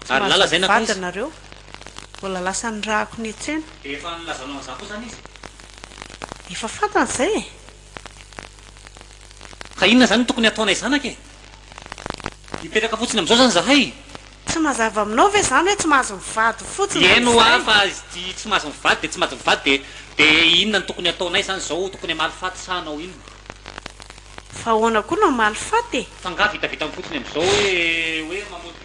tsy Ary lala izay mahazo mivady nankaiza? ianareo. Mbola lasan'ny rahako niantsena. Dia efa nilazanao an'izany koa izany izy? Efa fantany izay e! Ka inona izany no tokony hataonay zanaka e? Mipetraka fotsiny amin'izao izany izahay? Tsy mazava aminao ve izany hoe tsy mahazo mivady fotsiny dia Heno aho izay? fa izty tsy mahazo mivady dia tsy mahazo mivady dia dia inona no tokony hataonay izany izao? Tokony hamaly faty sa hanao inona? Fa ahoana koa no hamaly faty e? F'angaha vitavitam-potsiny amin'izao hoe hoe mamotika.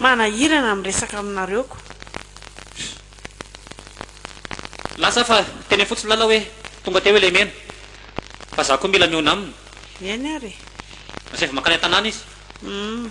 Manahirana miresaka aminareo ko. Lasa fa teny fotsiny lala hoe tonga teo ilay mena fa za ko mila miona aminy. Eny ary e. Lasa efa mankany an-tanàna izy. Humm.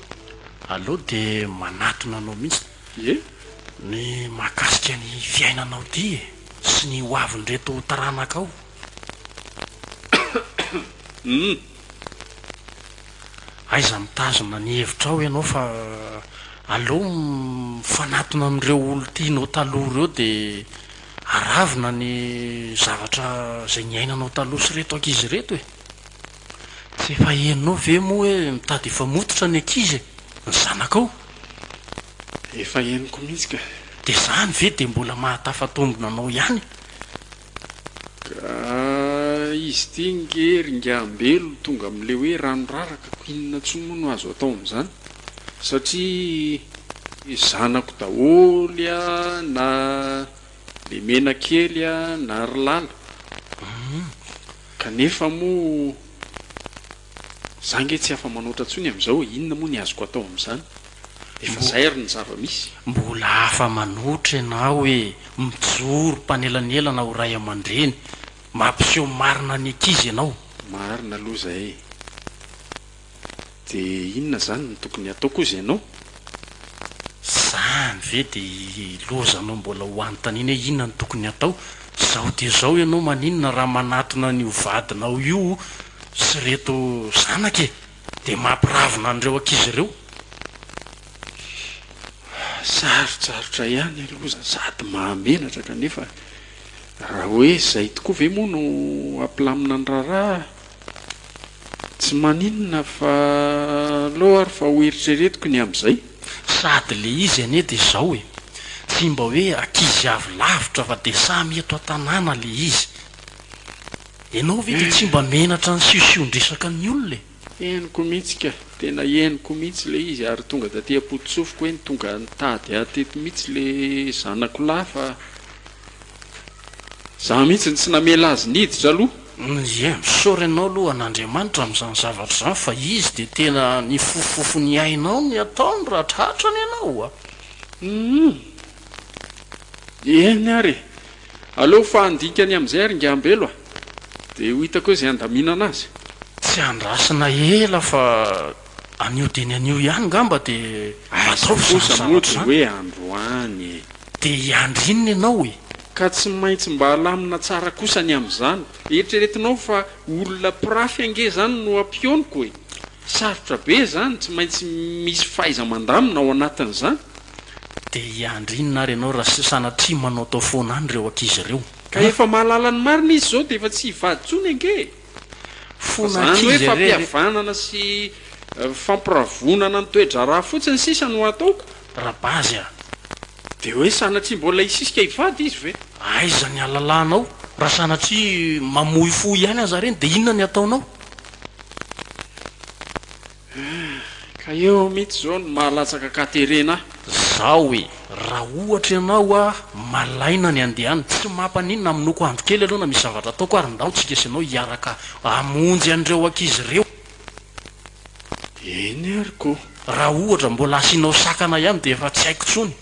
Aleo dia manatona anao mihitsy ny mahakasika ny fiainanao ity e! sy ny ho avin'ireto taranakao. Aiza mitazona ny hevitrao ianao fa aleo mifanatona amin'ireo olon-tianao taloha ireo dia aravona ny zavatra izay niainanao taloha sy ireto ankizy ireto e! Tsy efa henonao ve moa hoe mitady hifamototra ny ankizy e! Ny zanakao? Efa henoko mihitsy ka! Dia izany ve dia mbola mahatafatombina anao ihany? Ka izy ity nge ry ngahambelo tonga amin'ilay hoe rano raraka ko inona intsony moa no azo atao amin'izany satria zanako daholo a na Le mena kely a na ry lala humm kanefa moa za nge tsy afa manoatra ntsony amizao e inona moa ny azoko atao amizany efa zay ary ny zava misy. Mbola afa manoatra enao e mijoro mpanelanelana ho ray amandreny mampiseho marina ny ankizy enao. Marina aloha zay e. De inona zany no tokony hatao koa zay no. Zany ve de ilozanao mbola ho anontaniana hoe inona no tokony hatao? Zao dia zao ianao maninona raha manatona an'io vadinao io sy reto zanaka e? De mampiravona an'ireo ankizy ireo? Sarotsarotra ihany aloha za sady mahamenatra kanefa raha hoe zay tokoa ve moa no hampilamina ny raharaha? Tsy maninona fa aleo ary fa ho eritreretiko ny amin'izay. Sady le izy anie de zao e, tsy mba hoe ankizy avy lavitra fa de samy eto an-tanàna le izy. Enao ve de tsy mba menatra ny siosion-dresaka ny olona e. Henoko mihitsy ka, tena henoko mihitsy le izy ary tonga taty am-pototsofiko hoe tonga nitady ahy teto mihitsy le zanako lahy fa. Za mihitsy no tsy namela azy niditra aloha. Ye, misaory anao aloha an'Andriamanitra amin'izany zavatra izany fa izy dia tena nifofofofo ny ainao ny ataony raha tratrany ianao a! Humm! Eny ary e! Aleo fa handinika ny amin'izay ary Ingahambelo a! Dia ho hitako hoe izay handaminana azy. Tsy andrasana ela fa Anio dieny anio ihany ngamba dia ataovy izany zavatra izany. Aza kosa moa dia hoe androany e! Dia hiandry inona ianao e! Ka tsy maintsy mba alamina tsara kosa ny amin'izany. Eritreretinao fa olona mpirafy ange izany no ampioniko e! Sarotra be izany, tsy maintsy misy fahaiza-mandamina ao anatin'izany. Dia hiandry inona ary ianao raha sanatria manaotao foana any ireo ankizy ireo? Ka efa mahalala ny marina izy izao dia efa tsy hivady intsony ange e! Fa izany hoe fampihavanana sy fampiravonana ny toe-draharaha fotsiny sisa no hataoko? Rabazy a! Dia hoe sanatria mbola hisisika hivady izy ve? Aiza ny halalanao? Raha sanatria mamoy fo ihany aza ireny dia inona ny hataonao? Ka eo mitsy zao no mahalatsaka ka terena ah. Zao e, raha ohatra ianao a malaina ny andeha any, tsy mampaninona aminoko andro kely aloha na misy zavatra ataoko ary ndao tsika sy ianao hiaraka hamonjy an'ireo ankizy ireo. Eny ary ko. Raha ohatra mbola asianao sakana ihany dia efa tsy haiko tsony.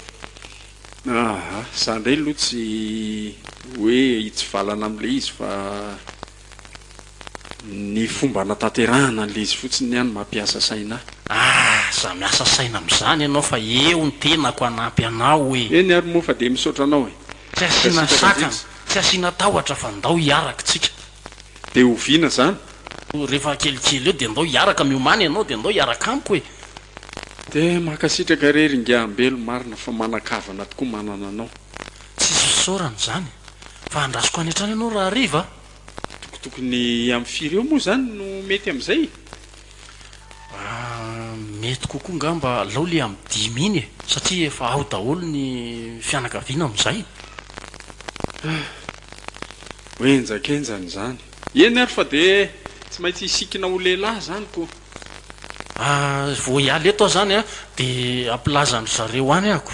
Aha, za ndray aloha tsy hoe hitsivalana amle izy fa. Ny fomba anatanterahana an'ilay izy fotsiny ny ahy no mampiasa saina ahy. Aza miasa saina amin'izany ianao fa eo ny tenako hanampy anao hoe. Eny ary moa fa dia misaotra anao e. Tsy asiana sakana, tsy asiana tahotra fa ndao hiaraka tsika. Dia oviana izany? Rehefa kelikely eo dia ndao hiaraka miomana ianao dia ndao hiaraka amiko e. Dia mankasitraka re ry Ingahy Ambelo, marina fa manan-kavana tokoa manana anao. Tsy hisy fisaorana izany fa andrasoko any hatrany ianao rahariva a! Tokotokony amin'ny firy eo moa izany no mety amin'izay? Mety kokoa angamba alao le amin'ny dimy iny e! Satria efa ao daholo ny fianakaviana amin'izay. Ho henjakenjana izany. Eny ary fa dia tsy maintsy hisikina ho lehilahy izany ko! Vao hiala eto aho izany dia hampilaza an-dry zareo any ahako.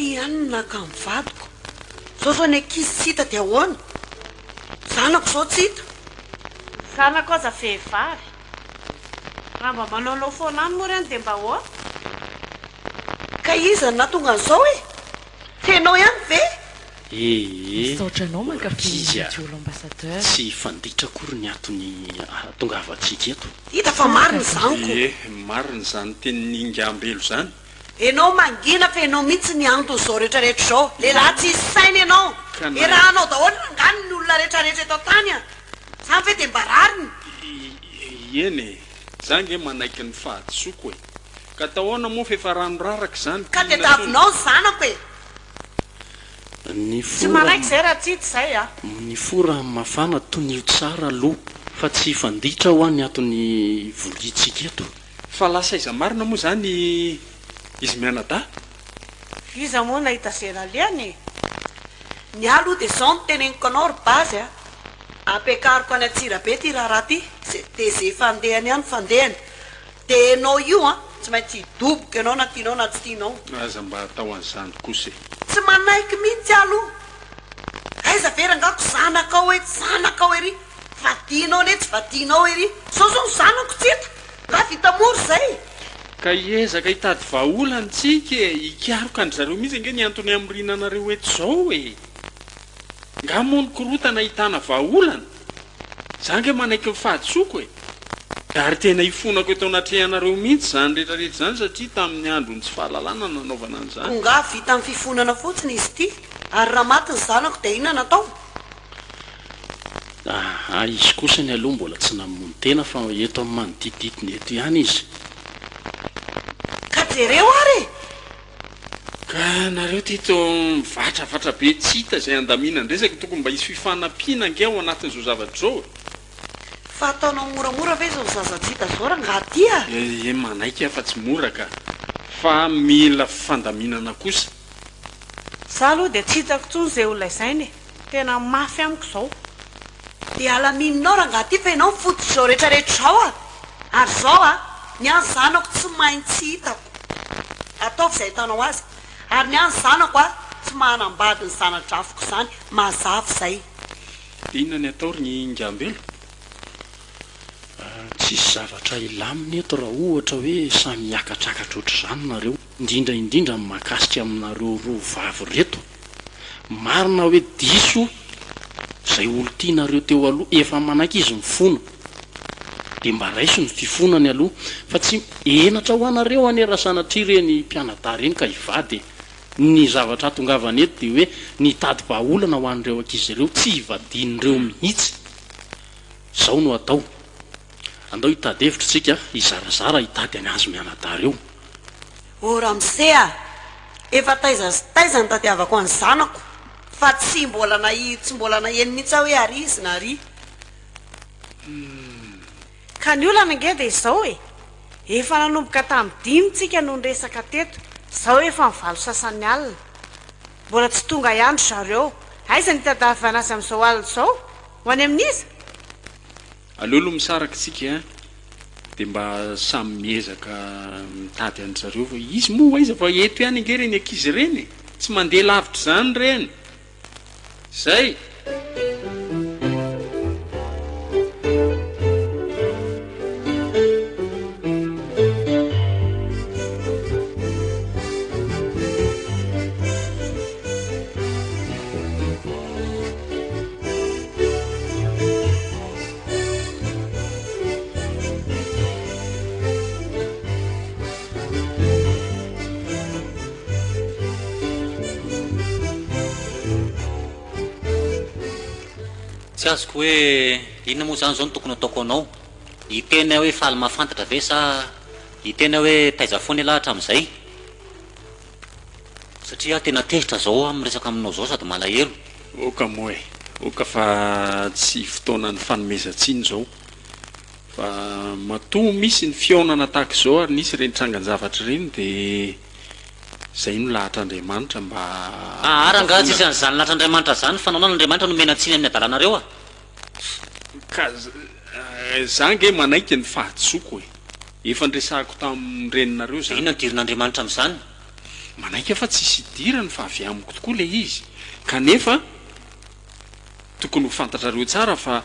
Ity ihany no naka an'i vadiko. Izao izao ny ankizy tsy hita dia ahoana? Zanako izao tsy hita. Zanako aza vehivavy. Raha mba manaonao foana any moa ireny dia mba ahoana? Ka iza no nahatonga an'izao e? Tsy ianao ihany ve? Ee, Misaotra anao mankafy ny Orchidea. Jolo Ambassadeur. Tsy fanditra akory ny antony ahatongavantsika eto. Hita fa marina izany ko. Ie, marina izany tenin'i Ingambelo izany. Enao mangina fa enao mihitsy ny antony zao rehetra rehetra zao. Lehilahy tsisy saina enao. Ka na. Erahanao daholo angany ny olona rehetra rehetra eto an-tany an. Zany ve dia mba rariny? Iieny e! Za nge manaiky ny fahadisoako e! Ka atao aona moa fa efa rano raraka izany, Ka dia davinao ny zanako e! Tsy manaiky izay raha tsy izay a! Mifoha rano mafana, tonio tsara aloha fa tsy hifanditra hoa ny ato ny voliantsika eto. Fa lasa aiza marina moa izany izy mianadahy? Iza moa nahita ze nalehany e! Ny ahy aloha dia izao no teneniko anao ry Base a! Ampiakariko any Antsirabe ity raharaha ity dia ze fandehany any fandehany dia enao io an! Tsy maintsy hidoboka enao na tianao na tsy tianao. Aza mba atao an'izany kosa e! Tsy manaiky mihitsy aho aloha! Aiza ve rangako zanakao etsy zanakao ery! Vadianao anie tsy vadianao ery. Zao zao ny zanako tsy eto. Raha vita mora zay. Ka hiezaka hitady vahaolana ntsika e! Hikaroka an-dry zareo mihitsy ange ny antony hamoriana anareo eto zao e! Nga moa ny korotana ahitana vahaolana? Za ange manaiky ny fahadisoako e! Nga ary tena hifonako eto anatrehanareo mihitsy zany rehetra rehetra zany satria tamin'ny andron'ny tsy fahalalana nanaovana an'izany? Ko nga vita amin'ny fifonana fotsiny izy ity? Ary raha maty ny zanako dia inona no atao? Aa izy kosa ny aloha mbola tsy namono tena fa eto amin'ny manodidididina eto ihany izy. Ka jereo ary e! Ka nareo ty to mivatravatra be tsy hita izay andaminan-dresaka e! Tokony mba hisy fifanampiana ange ao anatin' izao zavatra izao e! Fa ataonao moramora ve izao zaza tsy hita izao rangaha ty a! Ee manaiky aho fa tsy mora ka! Fa mila fandaminana kosa! Za aloha dia tsy hitako intsony izay ho lazaina e! Tena mafy amiko izao. Dia alamininao rangaha ty fa ianao no fototrizao rehetra rehetra izao a! Ary izao a! Ny an'ny zanako tsy mahay ny tsy hitako. Ataovy izay ahitanao azy. Ary ny an'ny zanako a! Tsy mahanambady ny zana-drafiko izany. Mazava izay. Dia inona ny atao ry Ingambelo? Tsisy zavatra hilamina eto raha ohatra hoe samy hiakatrakatra ohatr'izany nareo. indrindra indrindra ny mahakasika aminareo roa vavy reto, marina hoe diso zay olo tianareo teo aloha, efa manaiky izy mifona de mba raiso ny fifonany aloha fa tsy henatra ho anareo anie raha sanatria reny mpianadahy reny ka hivady e! ny zavatra hatongavany eto de hoe nitady vahaolana ho an'ireo ankizy ireo tsy hivadian'ireo mihitsy! zao no atao Andao hitady hevitra isika hizarazara hitady an azy mianadahy reo. O ramose a! Efa taiza sy taiza nitadiavako an'i zanako fa tsy mbola nahiry tsy mbola naheno mihitsy aho hoe ary izy na ry. Humm. Ka ny olana ange dia izao e! Efa nanomboka tamin'ny dimy tsika no niresaka teto, izao efa ny valo sasany alina. Mbola tsy tonga ihany ry zareo. Aiza ny hitadiavana azy amin'izao alina izao? Ho any amin'iza? Aleo aloha misaraka tsika a! de mba samy miezaka mitady an-dry zareo fa izy moa aiza fa eto ihany ange ireny ankizy ireny e! tsy mandeha lavitra izany ireny! zay! Tsy azoko hoe inona moa izany izao no tokony hataoko anao. Hiteny aho hoe faly mahafantatra ve sa hiteny aho hoe taiza foana ialahy hatramin'izay? Satria aho tena tezitra zao aho miresaka aminao zao sady malahelo. Oka moa e! Oka fa tsy fotoanan'ny fanomezan-tsiny zao. Fa matoa misy ny fihaonana tahaka izao ary nisy ireny trangan-javatra ireny dia izay no lahatr'Andriamanitra mba. Aa rangaha tsisy an'izany lahatr'Andriamanitra zany, fanaonan'Andriamanitra no miaina-tsiny amin'ny adalanareo a! Ka za nge manaiky ny fahadisoako e! Efa niresahako tamin'ny reninareo zany. De inona no dirin'Andriamanitra amin'izany? Manaiky aho fa tsisy hidirany fa avy amiko tokoa le izy. Kanefa tokony ho fantatrareo tsara fa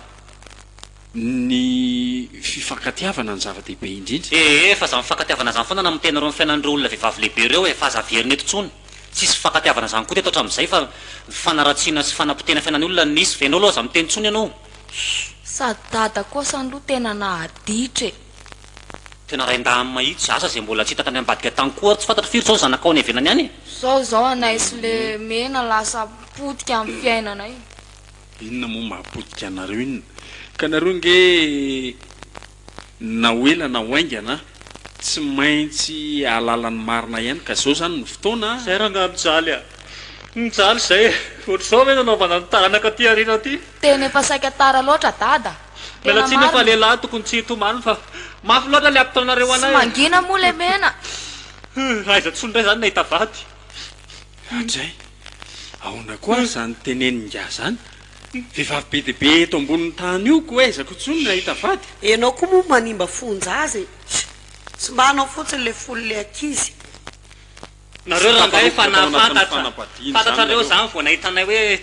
ny fifankatiavana no zava-dehibe indrindra. Ee, fa za mifankatiavana zany foana na mitenareo ny fiainan'ireo olona vehivavy lehibe ireo e, fa aza averina eto tsony. Tsisy fifankatiavana zany koa teto hatramizay fa fanaratsiana sy fanapotehana fiainan'ny olona no nisy. Enao aloha aza miteny tsony enao. Sady dada koa sa lo tena nahaditra e. Tena rain-dahiny mahitsy. Asa zay mbola tsy hita tany ambadika tany koa ary tsy fantatro firy zao ny zanakao any ivelany any e. Zao zao anay sy le mena lasa potika amin'ny fiainanay. Inona moa maha potika anareo inona ka nareo nge. Na ho ela na ho haingana, tsy maintsy hahalala ny marina ihany ka izao izany no fotoana a! Zay rangahy mijaly a! Mijaly zay e! Ohatr'izao ve no hanaovana ny taranaka aty aoriana aty? Tena efa saika tara loatra Dada! Miala Tena tsiny eo fa marina! lehilahy tokony tsy hitomany fa mafy loatra le ampitaonareo Tsy anay e! mangina moa lemena! Huh! Aiza tsony ndray zany nahita vady? Hatrizay, ahoana koa ary izany tenenin'ingahy izany? Vehivavy be dia be eto ambonin'ny tany io koa aizako intsony ny hahita vady. Enao koa moa manimba fonjaza e! Tsy mba anao fotsiny le fony le ankizy. Nareo rangahy efa nahafantatra, fantatrareo zany vao nahita anay hoe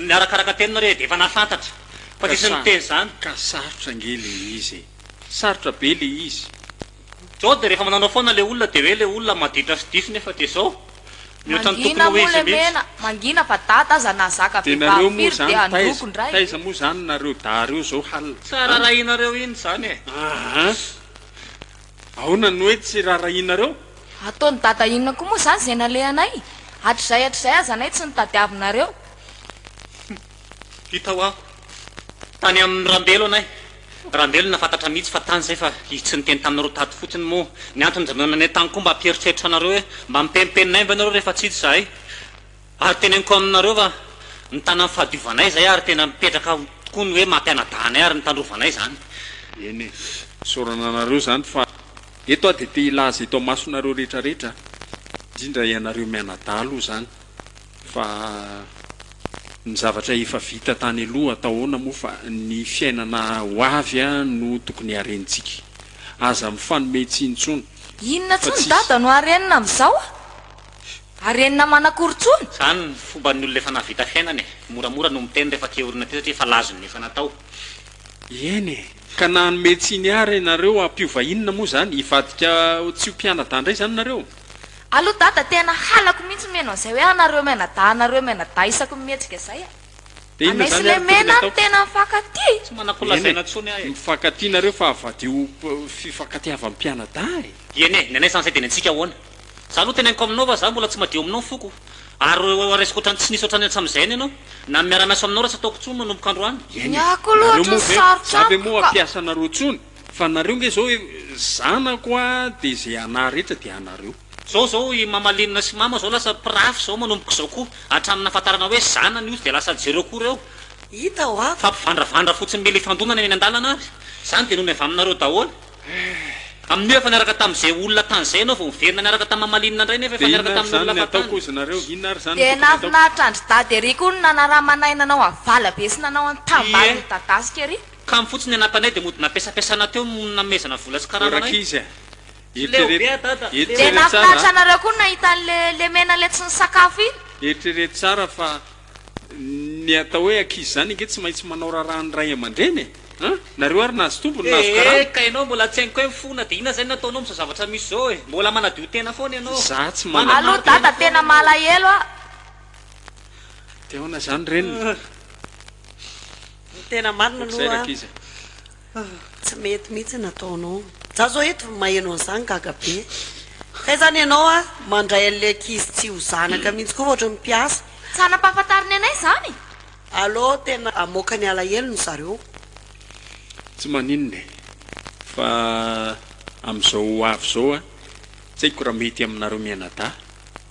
niarakaraka teny nareo e, dia efa nahafantatra fa diso niteny zany. Ka sarotra ange le izy e! Sarotra be le izy. Jody, rehefa mananao foana le olona de hoe le olona maditra sy diso nefa de zao mihoatra ny tokony ho izy mihitsy. Mangina fa dada aza nahazaka vehivavy firy dia handroko ndray. Taiza moa zany nareo dahy reo zao hal a. Tsa rarahinareo iny zany e. Aa aona no hoe tsy rarahinareo? Ataony dada inona koa moa zany zay nalehanay? Hatrizay hatrizay aza anay tsy nitadiavinareo. Hita ho'aho tany amin'i Rambelo anay. Rambelo nahafantatra mihitsy fa tany izay fa izy tsy niteny tamin'ny roa tato fotsiny moa ny antony izay nonanay tany koa mba hampieritreritra anareo hoe mba mipempenina ahy ve nareo rehefa tsy hita izahay ary teneniko aminareo fa mitana ny fahadiovanay izay ary tena mipetraka tokoa ny hoe mampianadahy anay ary mitandrovanay izany. Eny e, isaorana anareo izany fa eto aho dia te hilaza eto amasonareo rehetra rehetra indrindra ianareo mianadahy aloha izany. Fa ny zavatra efa vita tany aloha atao ahoana moa fa ny fiainana ho avy no tokony harentsika. Aza mifanome tsiny intsony Inona fa tsony tsy. dada no harenina amin'izao a? Harenina manakory tsony? Zany ny fomban'ny olona efa nahavita fiainana e! Moramora no miteny rehefa te orina aty satria efa lazo ny efa natao. Eny e! Ka na hanome tsiny ary ianareo hampiova inona moa izany? Hivadika tsy ho mpianadahy indray izany nareo? Allo dada tena halako mihitsy mihaino an'izay hoe anareo mianadahy anareo mianadahy isaky ny mihetsika zay a! Anay sy lemena no tena mifankatia! Tsy manakolazaina tsony aho e! Mifankatia nareo fa avadiho fifankatiavan'ny mpianadahy e! Dieny e! Ny anay sansay dia ny antsika ahoana? Za aloha teneniko aminao fa za mbola tsy madio aminao ny foko ary resiko otrany tsy nisy otrany hatsamizay any ianao na ny miara miasa aminao raha tsy ataoko tsony manomboka androany. Ny ahy koa loha otrany sarotra amiko ka. Za ve moa hampiasa anareo tsony? Fa nareo nge zao zanako a de ze ana rehetra de anareo. Zao zao i mamalinina sy mama zao lasa mpirafy zao manomboka izao koa hatramin'ny nahafantarana hoe zanany io tsy dia lasa jereo koa reo hita hoa fa mpivandravandra fotsiny mila ifandonana eny andalana ary zany dia nony avy aminareo daholo amin'io efa niaraka tamin'izay olona tany zay ianao vao miverina niaraka tamin'i mamalinina ndray nefa efa niaraka tamin'ny olona fa tany Dia nahafinaritra an-dry Dada ery koa ny nanaramanay nanao avalabe sy nanao an-tambaly midadasika ery. Kamo fotsiny anatanay dia mody nampiasampiasana teo no nanomezana vola sy karama anay. Rankizy a! Dia nahafinaritra anareo koa ny nahita an'le lemena ilay tsy nisakafo iny? Eritrereto tsara fa ny atao hoe ankizy izany ange tsy maintsy manao raharaha ny ray aman-dreny e! An! Nareo ary nahazo tombony, nahazo karama. Ee ka ianao mbola tsy hainko hoe mifona dia inona izay no ataonao amin'izao zavatra misy izao e! Mbola manadio tena foana ianao. Izaho tsy manana. Alou dada tena malahelo ah. Dia ahoana izany reny? Ny tena marina aloha tsy mety mihitsy ny ataonao. Za zao eto maheno an'izany gaga be. Kay izany ianao a mandray an'ilay ankizy tsy ho zanaka mihitsy koa fa ohatran'ny mpiasa. Tsy hanam-pahafantarana anay izany e! Allo, tena hamoaka ny alahelo ny zareo. Tsy maninona e! Fa amin'izao ho avy izao a, tsy haiko raha mety aminareo mianadahy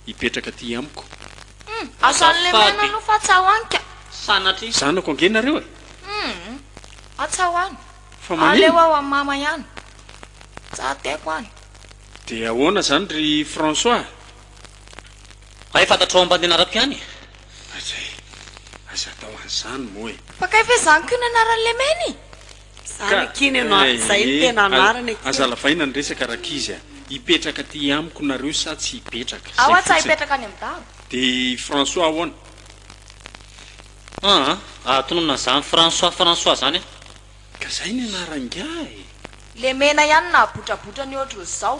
hipetraka aty amiko. Humm! Asan'ny lemena aloha fa atsahoany ka! Sanatria! Zanako ange nareo e! Humm! Atsahoany! Fa manino? Aleo ao amin'i Mama ihany! Tsa teko an! Dia ahoana izany ry François? Hay fantatrao ambandenarako ihany e! Aza e! Aza atao an'izany moa e! Fa kay ve izany koa no anaran'ny lemena e! Zany akia ny anao eh, zay ny tena anarany akia. Aza lavaina ny resaka rakizy a! Hipetraka aty amiko nareo sa tsy hipetraka? Zay fotsiny. De i François ahoana? Aa ah tononina zany François François zany a! Ka zay ny anaran'ingahy e! Lemena ihany nahabotrabotra ny ohatry ny zao.